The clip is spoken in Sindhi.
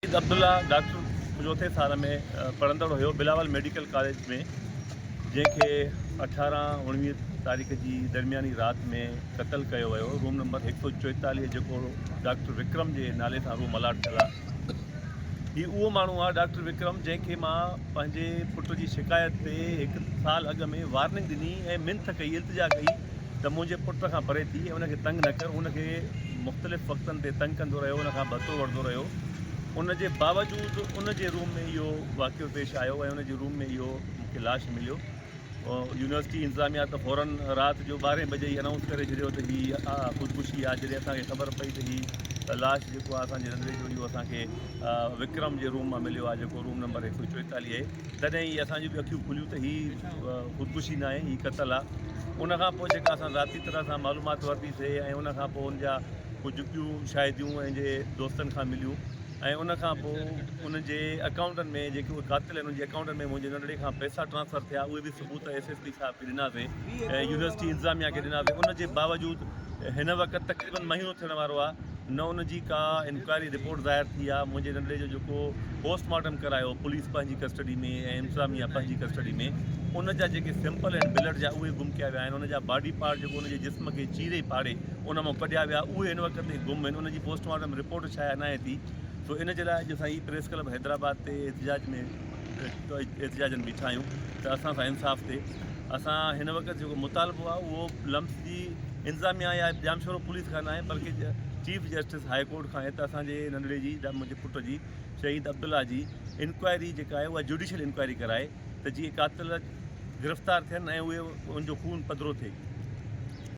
سيد عبدالله ڊاڪٽر چوٿين سال ۾ پڙهندڙ هيو بلاول ميڊيڪل ڪاليج ۾ جنهن کي اٺارهن اوڻويهه تاريخ جي درمياني رات ۾ قتل ڪيو ويو روم نمبر هڪ سو چوئيتاليهه جيڪو ڊاڪٽر وڪرم جي نالي سان روم الاٽ ٿيل آهي هي اهو ماڻهو آهي ڊاڪٽر وڪرم جنهن کي مان پنهنجي پٽ جي شڪايت تي هڪ سال اڳ ۾ وارننگ ڏني ۽ منٿ ڪئي التجا ڪئي ته منهنجي پٽ کان پري ٿي ان کي تنگ نه ڪر، هو ان کي مختلف وقتن تي تنگ ڪندو رهيو، ان کان ڀتو وٺندو رهيو، ان جي باوجود ان جي روم ۾ اهو واقعو پيش آيو ۽ ان جي روم ۾ اهو مون کي لاش مليو، يونيورسٽي انتظاميا ته فورن رات جو ٻارهين بجي ئي انائونس ڪري ڇڏيو ته هي خودڪشي آهي، جڏهن اسان کي خبر پئي ته هي لاش جيڪو آهي اسان جي رنڌڻي جو اهو اسان کي وڪرم جي روم مان مليو آهي جيڪو روم نمبر هڪ سو چوئيتاليهه اي. تڏهن ئي اسان جون به اکيون کليون ته هي خودڪشي ناهي هي قتل آ ان کان پوء جيڪا اسان ذاتي طرح سان معلومات ورتي سي ۽ ان کان پوء ان جا ڪجهه ٻيون شاهديون ان جي دوستن کان مليون ۽ ان کان پوء ان جي اڪائونٽن ۾ جيڪي اهي قاتل آهن ان جي اڪائونٽن ۾ منهنجي ننڍڙي کان پئسا ٽرانسفر ٿيا اهي به ثبوت ايس ايس پي صاحب کي ڏناسي ۽ يونيورسٽي انتظاميا کي ڏناسي ان جي باوجود هن وقت تقريبن مهينو ٿيڻ وارو آ نه ان جي ڪا انڪوائري رپورٽ ظاهر ٿي آهي منهنجي ننڍڙي جو جيڪو پوسٽ مارٽم ڪرايو پوليس پنهنجي ڪسٽڊي ۾ ۽ انتظاميا پنهنجي ڪسٽڊي ۾ ان جا جيڪي سيمپل آهن بلڊ جا اهي گم ڪيا ويا آهن ان جا باڊي پارٽ جيڪو ان جي جسم کي چيري پاڙي ان مان ڪڍيا ويا اهي هن وقت تائين گم آهن ان جي پوسٽ مارٽم رپورٽ شايع ناهي ٿي سو ان جي لاء اڄ اسان هي پريس ڪلب حيدرآباد تي احتجاج ۾ احتجاجن بيٺا آهيون ته اسان سان انصاف ٿئي اسان هن وقت جيڪو مطالبو آهي اهو لمس جي انتظاميا يا ڄامشورو پوليس کان ناهي بلڪه چيف جسٽس هاء ڪورٽ کان آهي ته اسان جي ننڍڙي جي جا منهنجي پٽ جي شهيد عبدالله جي انڪوائري جيڪا آهي اها جوڊيشل انڪوائري ڪرائي ته جيئن قاتل گرفتار ٿين ۽ اهي ان جو خون پڌرو ٿئي.